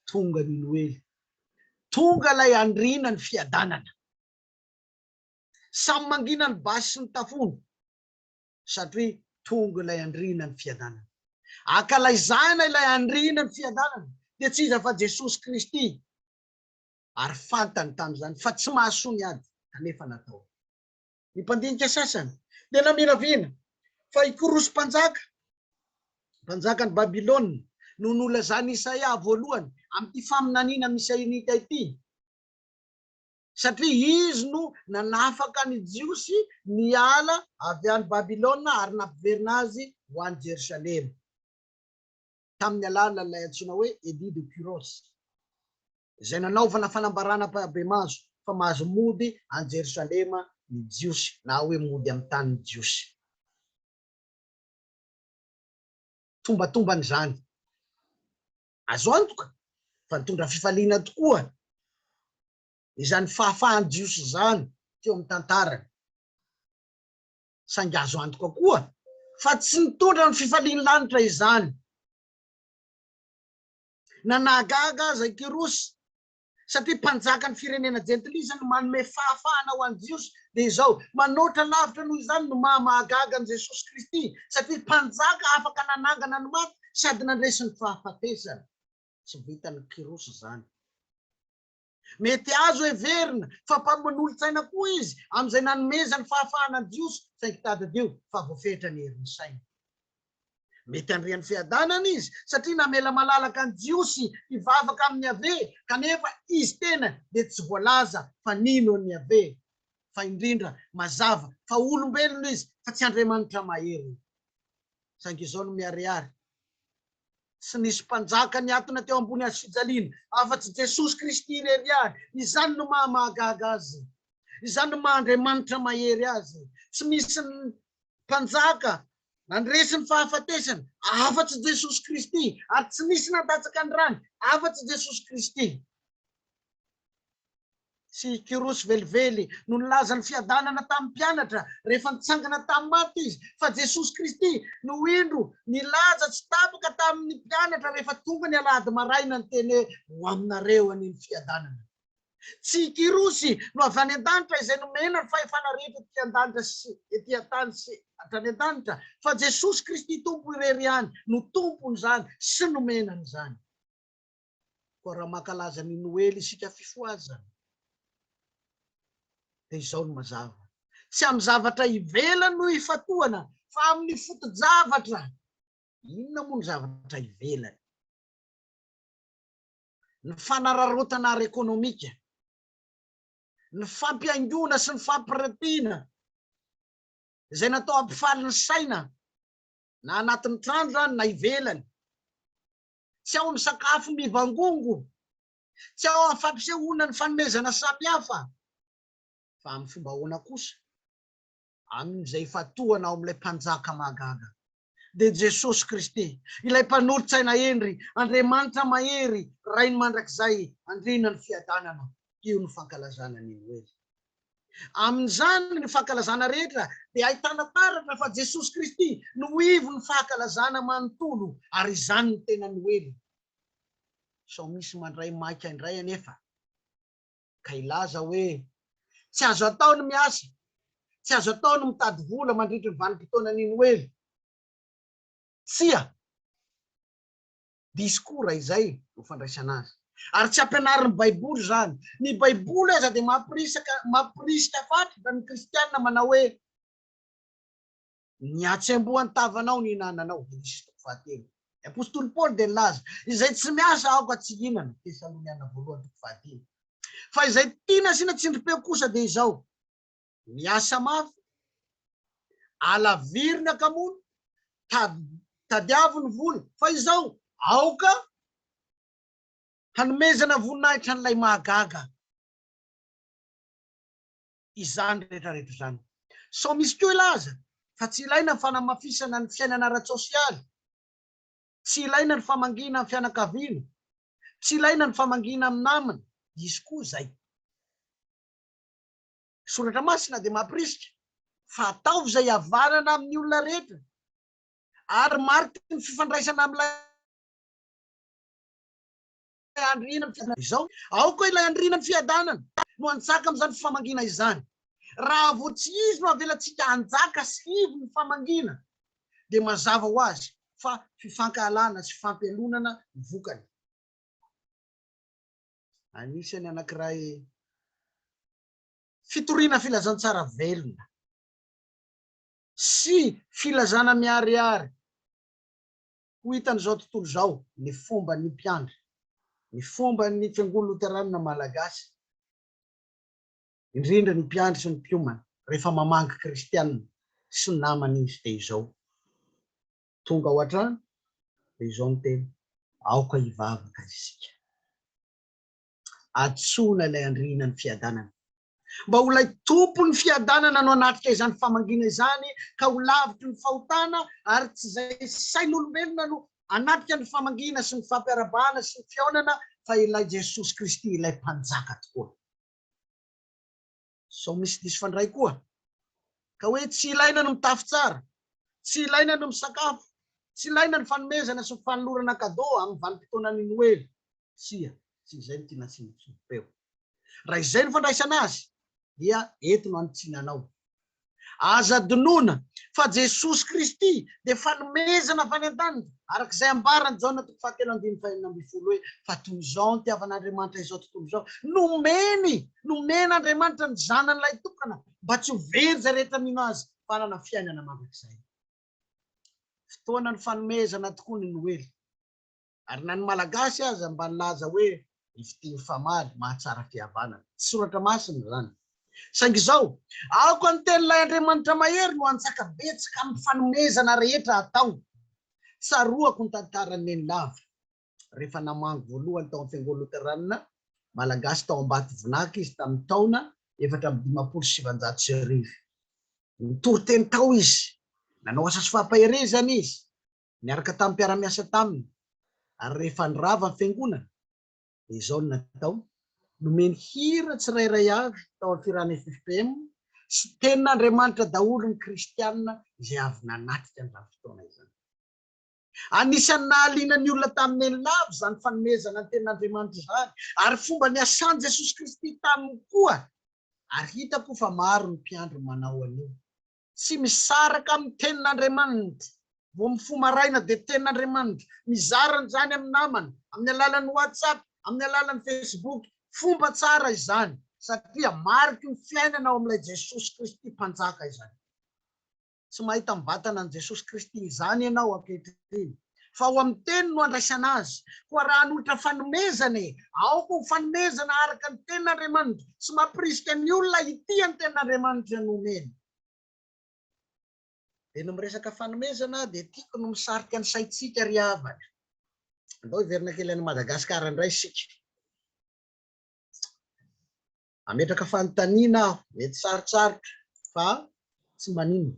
Tonga ny Noely. Tonga ilay andriana ny fiadanana. Samy mangina ny basy sy ny tafondro satria tonga ilay andriana ny fiadanana. Ankalaizana ilay andriana ny fiadanana dia tsy iza fa Jesosy Kristy ary fantany tamin'izany fa tsy mahasoa ny ady kanefa natao. Ny mpandinika sasany dia naminavina fa i Korosy mpanjaka, mpanjakan'i Babylona, no nolazan'i Isaia voalohany amin'ity faminaniana misy Isaia ity. satria izy no nanafaka ny Jiosy niala avy any Babylona ary nampiverina azy ho any Jerosalema, tamin'ny alalan'ilay antsoina hoe Edit de Kyros, izay nanaovana fanambarana ampahibemaso fa mahazo mody any Jerosalema ny Jiosy, na hoe mody amin'ny tanin'ny Jiosy. Tombatombana izany. Azo antoka fa nitondra fifaliana tokoa izany fahafahan'ny Jiosy izany teo amin'ny tantarany. Saingy azo antoka koa fa tsy nitondra ny fifalian'ny lanitra izany. Na nahagaga aza i Kyrosy satria mpanjakan'ny firenena jentilisa no manome fahafahana ho an'i Jiosy, dia izao, manoatra lavitra noho izany no maha mahagaga an'i Jesosy Kristy, satria mpanjaka afaka nanangana ny maty sady nandresy ny fahafatesana. Tsy vitan'i Kyrosy izany. Mety azo heverina fa mpamonolotsaina koa izy amin'izay nanomezany fahafahana ny Jiosy, saingy tadidio fa voafetra ny herin'ny sainy. Mety handre ny fiadanana izy satria namela malalaka ny Jiosy hivavaka amin'i Yaveh, kanefa izy tena dia tsy voalaza fa nino an'i Yaveh. Fa indrindra, mazava fa olombelona izy fa tsy Andriamanitra mahery. Saingy izao no miharihary, Tsy nisy mpanjaka niatona teo ambony hazofijaliana afa-tsy Jesosy Kristy irery ihany. Izany no maha mahagaga azy. Izany no maha Andriamanitra mahery azy. Tsy misy mpanjaka Nandresy ny fahafatesana afa-tsy Jesosy Kristy, ary tsy nisy nandatsaka ny rany afa-tsy Jesosy Kristy. Tsy i Kyrosy velively no nilaza ny fiadanana tamin'ny mpianatra rehefa nitsangana tamin'ny maty izy, fa Jesosy Kristy no indro nilaza tsy tapaka tamin'ny mpianatra rehefa tonga ny alahady maraina niteny hoe, Ho aminareo anie ny fiadanana. Tsy i Kyrosy no avy any an-danitra izay nomena ny fahefana rehetra ety an-danitra sy ety an-tany sy hatrany an-danitra, fa Jesosy Kristy Tompo irery ihany no Tompon'izany sy nomena an'izany. Koa raha mankalaza ny Noely isika Fifohazana dia izao no mazava, tsy amin'ny zavatra ivelany no ifatohana fa amin'ny foto-javatra. Inona moa ny zavatra ivelany? ny fanararaotana ara-ekonomika, ny fampihaingoana sy ny fampiratiana izay natao hampifaly ny saina na anatin'ny trano izany na ivelany. Tsy ao amin'ny sakafo mivangongo, tsy ao amin'ny fampisehoana ny fanomezana samihafa, fa amin'ny fomba ahoana kosa? Amin'izay ifatohana ao amin'ilay Mpanjaka mahagaga, dia Jesosy Kristy, ilay Mpanolotsaina hendry, Andriamanitra mahery, Rainy mandrakizay, Andriana ny fiadanana. Io no fankalazana ny Noely. Amin'izany ny fankalazana rehetra dia ahitana taratra fa Jesosy Kristy no ho ivon'ny fahakalazana manontolo, ary izany no tena Noely. Sao misy mandray maika indray anefa. ka hilaza hoe, Tsy azo atao ny miasa, tsy azo atao ny mitady vola mandritry ny vanim-potoanan'ny Noely. Tsia. Disikora izay no fandraisana azy. Ary tsy ampianarin'ny Baiboly izany. Ny Baiboly aza dia mampirisika fatratra ny Kristiana manao hoe, Ny hatsembohan'ny tavanao no ihinananao, Henisy toko fahatelo. Ny apostoly Paoly dia nilaza, Izay tsy miasa aoka tsy hihinana, Tesaloniana voalohany toko fahadimy. Fa izay tia nasiana tsindrim-peo kosa dia izao, Miasa mafy, alaviro ny hakamoana, tadiavo ny vola, fa izao, aoka hanomezana voninahitra an'ilay mahagaga. izany rehetrarehetra izany. Sao misy koa hilaza fa tsy ilaina ny fanamafisana ny fiainana ara-tsosialy, tsy ilaina ny famangiana amin'ny fianakaviana, tsy ilaina ny famangiana amin'ny namana, hisy koa izay. Ny Soratra Masina dia mampirisika fa ataovy izay havanana amin'ny olona rehetra ary mariky ny fifandraisana amin'ilay. andro hihina ny fiadanana izao. Ao koa ilay andriana ny fiadanana no hanjaka amin'izany fifamangiana izany. Raha vao tsy izy no avelantsika hanjaka sy hivo ny fifamangiana dia mazava ho azy fa fifankahalana sy fifampialonana no vokany. Anisany anankiray fitoriana filazantsara velona sy filazana miharihary Ho hitan'izao tontolo izao ny fomban'ny mpiandry, ny fomban'ny Fiangonana Loteranina Malagasy, indrindra ny mpiandry sy ny mpiomana, rehefa mamangy kristiana sy namana izy dia izao, tonga ao an-trano dia izao ny teny, aoka hivavaka isika, antsoina ilay Andriana ny fiadanana, Mba ho ilay Tompon'ny fiadanana no hanatrika izany famangiana izany ka ho lavitry ny fahotana ary tsy izay sain'olombelona no hanatrika ny famangiana sy ny fampiarabahana sy ny fihaonana fa ilay Jesosy Kristy ilay Mpanjaka tokoa. Sao misy diso fandray koa ka hoe tsy ilaina ny mitafy tsara, tsy ilaina ny misakafo, tsy ilaina ny fanomezana sy ny fanolorana cadeau amin'ny vanim-potoanan'ny Noely. Tsia, tsy izay no tiana antsoina intsony. Peo. Raha izay no fandraisana azy dia eto no anitsinanao. Aza adinoina fa Jesosy Kristy dia fanomezana avy any an-danitra, araka izay ambaran'i Jaona toko fahatelo andininy fahenina ambin'ny folo hoe, Fa toy izao no nitiavan'Andriamanitra izao tontolo izao, nomeny, nomen'Andriamanitra ny Zanany lahitokana, mba tsy ho very izay rehetra mino Azy, fa hanana fiainana mandrakizay. Fotoanan'ny fanomezana tokoa ny Noely. Ary na ny Malagasy aza mba nilaza hoe ny fitia mifamaly mahatsara fihavanana. Tsy soratra masina izany. Saingy izao, Aoka ny tenin'ilay Andriamanitra mahery no hanjaka betsaka amin'ny fanomezana rehetra atao. Tsaroako ny tantaran'i Nenilava. Rehefa namangy voalohany tao amin'ny Fiangonana Loteranina Malagasy tao Ambatovonaka izy tamin'ny taona efatra amby dimampolo sy sivanjato sy arivo. Nitory teny tao izy. Nanao asa sy fampaherezana izy. Niaraka tamin'ny mpiara-miasa taminy ary rehefa nirava ny fiangonana dia izao no natao, nomeny hira tsirairay avy tao amin'ny firahan'ny FFPM sy Tenin'Andriamanitra daholo ny kristiana izay avy nanatrika an'izany fotoana izany. Anisan'ny nahaliana ny olona tamin'ny eny lava izany fanomezana ny Tenin'Andriamanitra izany ary fomba niasan'i Jesosy Kristy taminy koa ary hitako fa maro ny mpiandry manao an'io. tsy misaraka amin'ny tenin'Andriamanitra, vao mifoha maraina dia tenin'Andriamanitra, mizara an'izany amin'ny namany, amin'ny alalan'ny WhatsApp, amin'ny alalan'ny Facebook, fomba tsara izany, satria mariky ny fiainana ao amin'ilay Jesosy Kristy Mpanjaka izany. Tsy mahita ny vatana an'i Jesosy Kristy izany ianao ankehitriny. fa ao amin'ny Teny no andraisana azy. Koa raha hanolotra fanomezana e! aoka ho fanomezana araka ny Tenin'Andriamanitra. Tsy mampirisika ny olona hitia ny Tenin'Andriamanitra no omeny. Dia ny miresaka fanomezana dia tiako ny misarika ny saintsika ry havana. Andao hiverina kely any Madagasikara indray isika. Hametraka fanontaniana aho, mety sarotsarotra fa tsy maninona.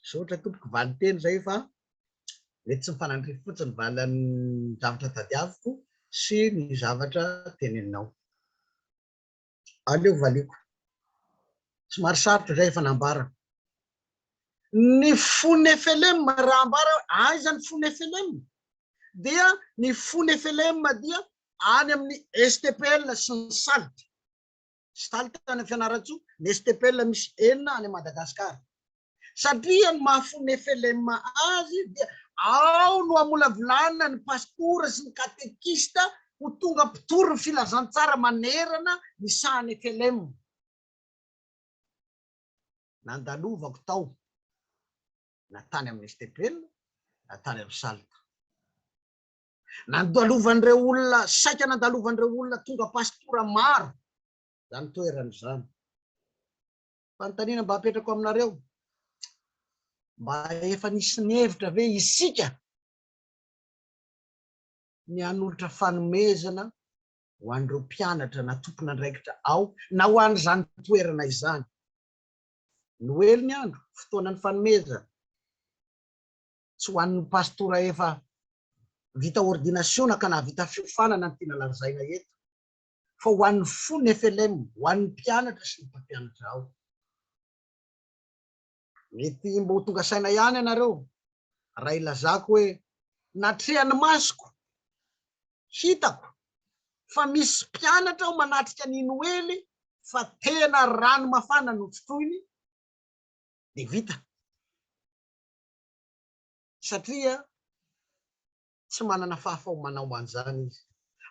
Misaotra tompoko valinteny zay fa mety tsy mifanandrify fotsiny valin'ny zavatra tadiaviko sy ny zavatra teneninao. Aleo valiako. Somary sarotra zay efa nambarako. Ny fo nefelem raha ambara hoe aiza ny fo nefelem dia ny fo nefelem dia any amin'ny stpl sy ny salt. sy taly tany Fianarantsoa, ny STPL misy enina any Madagascar. Satria ny maha fony FLM azy dia ao no amolavolana ny pastora sy ny katekista ho tonga mpitory ny filazantsara manerana ny sahan'ny FLM. Nandalovako tao, na tany amin'ny STPL, na tany amin'ny SALT. Nandalovan'ireo olona, saika nandalovan'ireo olona tonga pastora maro izany toerana izany. Fanontaniana mba apetrako aminareo, mba efa nisy nihevitra ve isika ny hanolotra fanomezana ho an'ireo mpianatra na tompon'andraikitra ao na ho an'izany toerana izany? Noely ny andro, fotoanan'ny fanomezana. tsy ho an'ny pastora efa vita ordinasiona ka nahavita fiofanana no tiana lazaina eto fa ho an'ny fony FLM, ho an'ny mpianatra sy ny mpampianatra ao. Mety mba ho tonga saina ihany ianareo raha ilazako hoe natrehan'ny masoko, hitako fa misy mpianatra ao manatrika an'i Noely fa tena rano mafana no trotroiny dia vita. satria tsy manana fahafaomanao an'izany izy.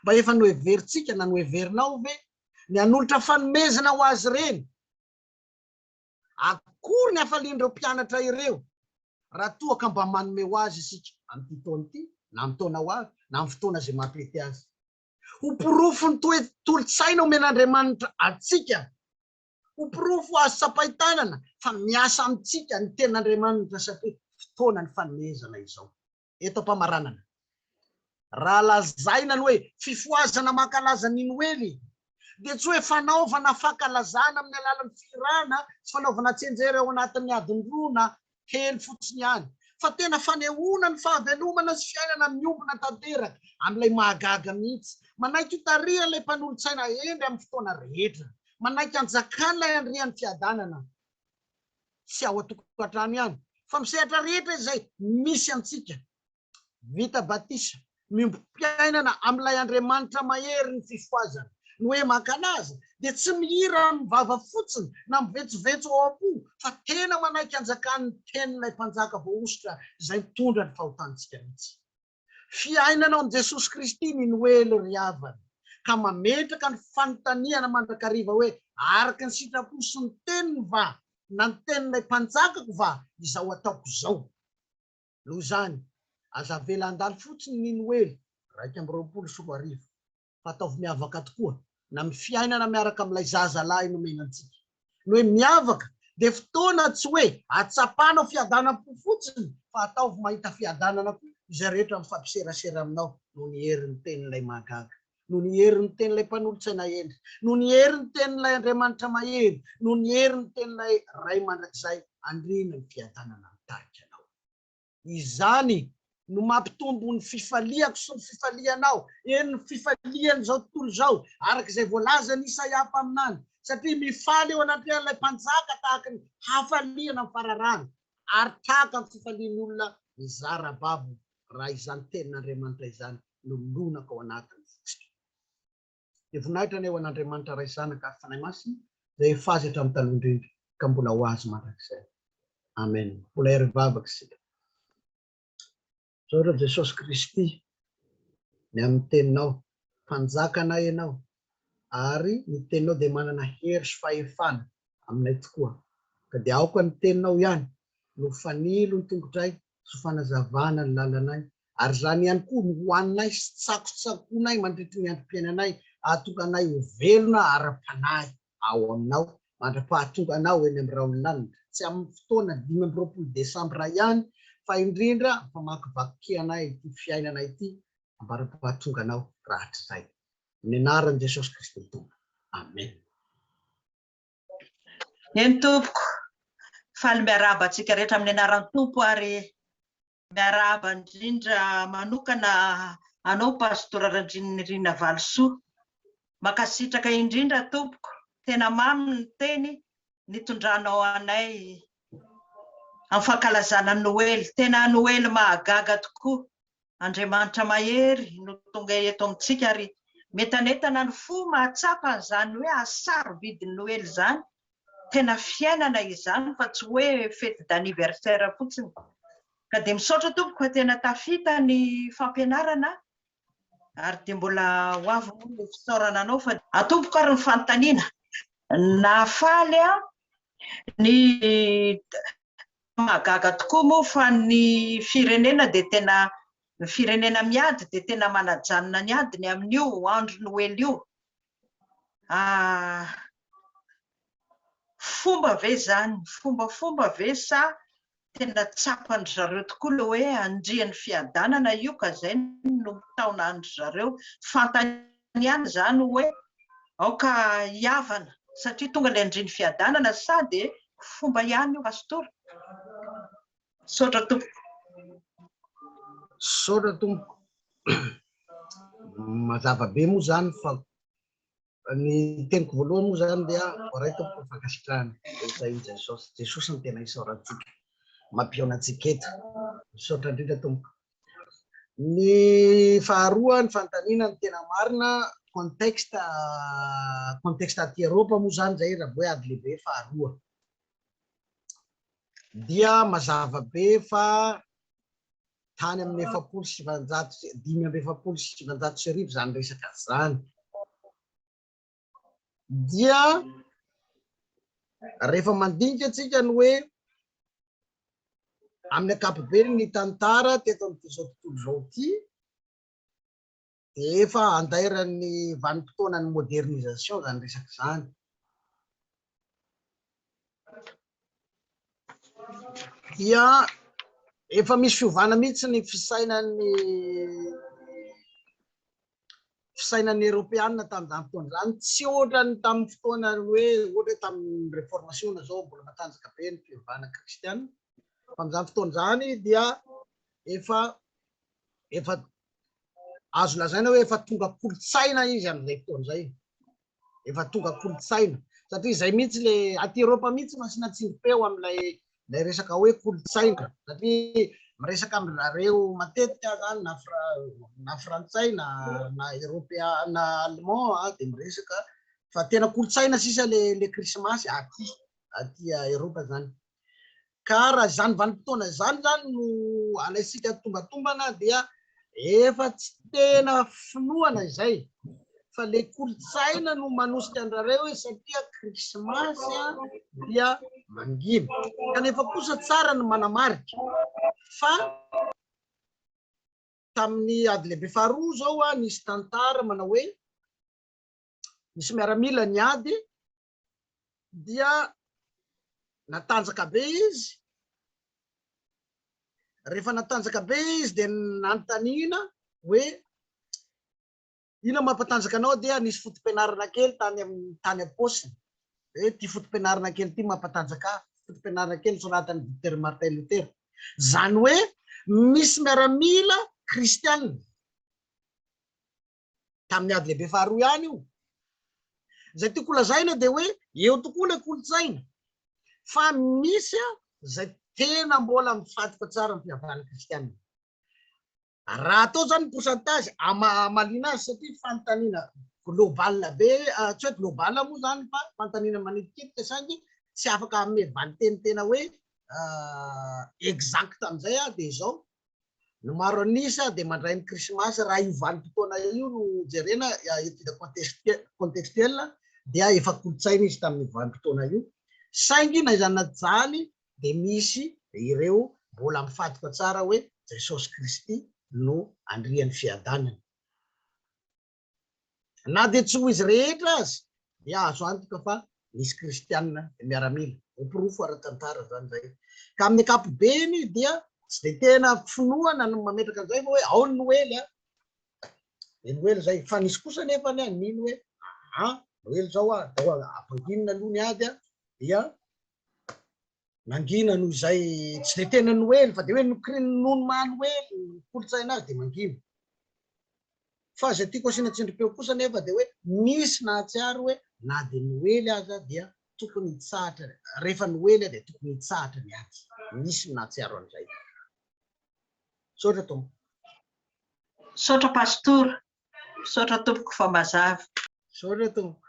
Mba efa noheverintsika na noheverinao ve ny hanolotra fanomezana ho azy ireny? Akory ny hafalian'ireo mpianatra ireo raha toa ka mba manome ho azy isika amin'ity taona ity na amin'ny taona ho avy na amin'ny fotoana izay mampety azy. Ho porofon'ny toe-tolotsaina omen'Andriamanitra antsika Ho porofo azo tsapain-tanana fa miasa amintsika ny Tenin'Andriamanitra satria fotoana ny fanomezana izao. Eto am-pamaranana, raha lazaina ny hoe fifohazana mankalaza ny Noely, dia tsy hoe fanaovana fankalazana amin'ny alalan'ny fihirana sy fanaovana tsianjery ao anatin'ny adin-droa na kely fotsiny ihany, fa tena fanehoana ny fahavelomana sy fiainana miombona tanteraka, amin'ilay mahagaga mihitsy. Manaiky ho tarihan'ilay Mpanolotsaina hendry amin'ny fotoana rehetra. Manaiky hanjakan'ilay Andrian'ny Fiadanana, tsy ao an-tokantrano ihany, fa misehatra rehetra izay misy antsika. vita batisa, miombom-piainana amin'ilay Andriamanitra mahery ny fifohazana. Ny hoe mankalaza dia tsy mihira amin'ny vava fotsiny na mivetsovetso ao am-po fa tena manaiky hanjakan'ny tenin'ilay Mpanjaka voahosotra izay mitondra ny fahotantsika mihitsy. Fiainana ao amin'i Jesosy Kristy ny Noely ry havana, ka mametraka ny fanontaniana mandrakariva hoe araka ny sitrapo sy ny teniny va na ny tenin'ilay Mpanjakako va izao ataoko izao? noho izany, aza avela handalo fotsiny ny Noely iraika amby roapolo sy roa arivo, fa ataovy miavaka tokoa na amin'ny fiainana miaraka amin'ilay zaza lahy nomena antsika. Ny hoe miavaka dia fotoana tsy hoe hatsapanao fiadanam-po fotsiny, fa ataovy mahita fiadanana koa izay rehetra mifapiserasera aminao noho ny herin'ny Tenin'ilay Mahagaga. noho ny herin'ny tenin'ilay Mpanolotsaina hendry, noho ny herin'ny tenin'ilay Andriamanitra mahery, noho ny herin'ny tenin'ilay Ray mandrakizay andriana ny fiadanana mitarika anao. Izany no mampitombo ny fifaliako sy ny fifalianao, eny, ny fifalian'izao tontolo izao, araka izay voalazan'i Isaia mpaminany, satria mifaly eo anatrehan'ilay Mpanjaka tahaka ny hafaliana amin'ny fararano, ary tahaka ny fifalian'ny olona mizara babo raha izany Tenin'Andriamanitra izany no mironaka ao anatin'ny fotsika. Dia voninahitra ny eo an'Andriamanitra Ray, Zanaka, ary Fanahy Masina, izay efa Azy hatramin'ny taloha indrindra, ka mbola ho Azy mandrakizay. Amen. Mpolay ary mivavaka isika. Misaotra an'i Jesosy Kristy, ny amin'ny Teninao. Mpanjakanay Ianao, ary ny teninao dia manana hery sy fahefana aminay tokoa, ka dia aoka ny teninao ihany no ho fanilo ny tongotray sy ho fanazavana ny lalanay, ary izany ihany koa no ho anay sy tsakotsakoanay mandritry ny androm-piainanay, hahatonga anay ho velona ara-panahy ao aminao mandra-pahatonga anao eny amin'ny rahon'ny lanitra, tsy amin'ny fotoana dimy amby roapolo desambra ihany, fa indrindra ampamakivakianay ity fiainana ity ambara-pahatonganao rahatrizay. amin'ny anaran'i Jesosy Kristy Tompo. Amena. Eny tompoko, faly miarahaba antsika rehetra amin'ny anaran'ny Tompo ary miarahaba indrindra manokana anao Pastora Randrianirina Valisoa. Mankasitraka indrindra tompoko, tena mamy ny teny nitondranao anay amin'ny fankalazana Noely, tena Noely mahagaga tokoa. Andriamanitra mahery no tonga eto amintsika ary mientanentana ny fo mahatsapa an'izany hoe asa sarobidy Noely izany, tena fiainana izany fa tsy hoe fety d'anniversaire fotsiny. Ka dia misaotra tompoko fa tena tafita ny fampianarana ary dia mbola ho avy moa ny fisaorana anao fa. An tompoko ary ny fanontaniana. Nahafaly aho ny Mahagaga tokoa moa fa ny firenena dia tena, ny firenena miady dia tena manajanona ny adiny amin'io andro noely io. Ah, fomba ve izany, fombafomba ve sa tena tsapan-dry zareo tokoa ilay hoe andrian'ny fiadanana io ka izay no mitaona an-dry zareo? Fantany Tokony ihany izany hoe aoka hihavana satria tonga ilay andrin'ny fiadanana sa dia fomba ihany io Pastora? Misaotra tompoko. Misaotra tompoko. Mazava be moa izany fa ny teniko voalohany moa izany dia voaray tompoko ny fankasitrahana rehetra i Jesosy. Jesosy no tena isaorantsika, mampihaona antsika eto. Misaotra indrindra tompoko. Ny faharoa, ny fanontaniana ny tena marina, contexte, contexte aty Eropa moa izany izay raha vao hoe ady lehibe faharoa dia mazava be fa tany amin'ny efapolo sy sivanjato, dimy amby efapolo sy sivanjato sy arivo izany resaka izany. dia rehefa mandinika antsika ny hoe amin'ny ankapobeny ny tantara teto amin'izao tontolo izao ity dia efa andairan'ny vanim-potoanan'ny modernisation izany resaka izany dia efa misy fiovana mihitsy ny fisainan'ny fisainan'ny Eropeana tamin'izany fotoana izany, tsy ohatran'ny tamin'ny fotoana hoe ohatra hoe tamin'ny reformasiona izao mbola matanjaka be ny fivavahana kristiana, tamin'izany fotoana izany dia efa efa azo lazaina hoe efa tonga kolontsaina izy amin'izay fotoana izay. efa tonga kolontsaina satria izay mihitsy le aty Europe mihitsy no asiana tsindrim-peo amin'ilay ilay resaka hoe kolontsaina satria miresaka amin'zareo matetika zany na na frantsay na na européen na allemand ah, dia miresaka fa tena kolontsaina sisa le le krismasy aty aty Europe zany Ka raha izany vanim-potoana izany izany no alaintsika tombatombana dia efa tsy tena finoana izay fa ilay kolontsaina no manosika an-drareo hoe satria krismasy dia mangina. Kanefa kosa tsara ny manamarika fa tamin'ny ady lehibe faharoa izao nisy tantara manao hoe nisy miaramila niady dia natanjaka be izy, rehefa natanjaka be izy dia nanontaniana hoe ina mampatanjaka anao dia nisy fotom-pianarana kely tany amin'ny tany am-paosiny hoe ity fotom-pianarana kely ity mampatanjaka fotom-pianarana kely soratany Dr Martin Luther izany hoe misy miaramila kristianina tamin'ny ady lehibe faharoa ihany io. Izay tiako holazaina dia hoe eo tokoa ilay kolontsaina fa misy izay tena mbola mifatotra tsara ny fihavanana kristianina. Raha atao izany ny pourcentage amaliana azy satria fanontaniana global be, ah, tsy hoe global moa izany fa fanontaniana manitikitika saingy tsy afaka hanome valinteny tena hoe ah, exact amin'izay aho dia izao Ny maro an'isa dia mandray ny Krismasy raha io vanim-potoana io no jerena, étude contextuelle, dia efa kolontsaina izy tamin'io vanim-potoana io, saingy na izany na izany dia misy ireo mbola mifaditra tsara hoe Jesosy Kristy no andrian'ny fiadanana. Na dia tsy ho izy rehetra aza dia azo antoka fa nisy kristiana miaramila. Ho porofo ara-tantara izany izay. Ka amin'ny ankapobeny dia tsy dia tena finoana no mametraka an'izay fa hoe ao ny noely an! Dia noely izay. Fa nisy kosa anefa ny nino hoe aa! Noely izao an! Dia ampanginina aloha ny ady an! Dia. Mangina noho izay tsy dia tena Noely fa dia hoe nokiriny noho ny maha Noely ny kolontsaina azy dia mangina. Fa izay tiako asiana tsindrim-peo kosa anefa dia hoe misy nahatsiaro hoe na dia Noely aza dia tokony hitsahatra, rehefa Noely dia tokony hitsahatra ny ady. Misy ny nahatsiaro an'izay. Misaotra Tompo. Misaotra Pastora. Misaotra tompoko fa mazava. Misaotra tompoko.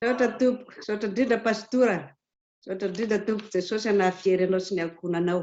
Misaotra tompoko. Misaotra indrindra Pastora. Misaotra indrindra tompoko. Jesosy hanahafiery anao sy ny ankohonanao.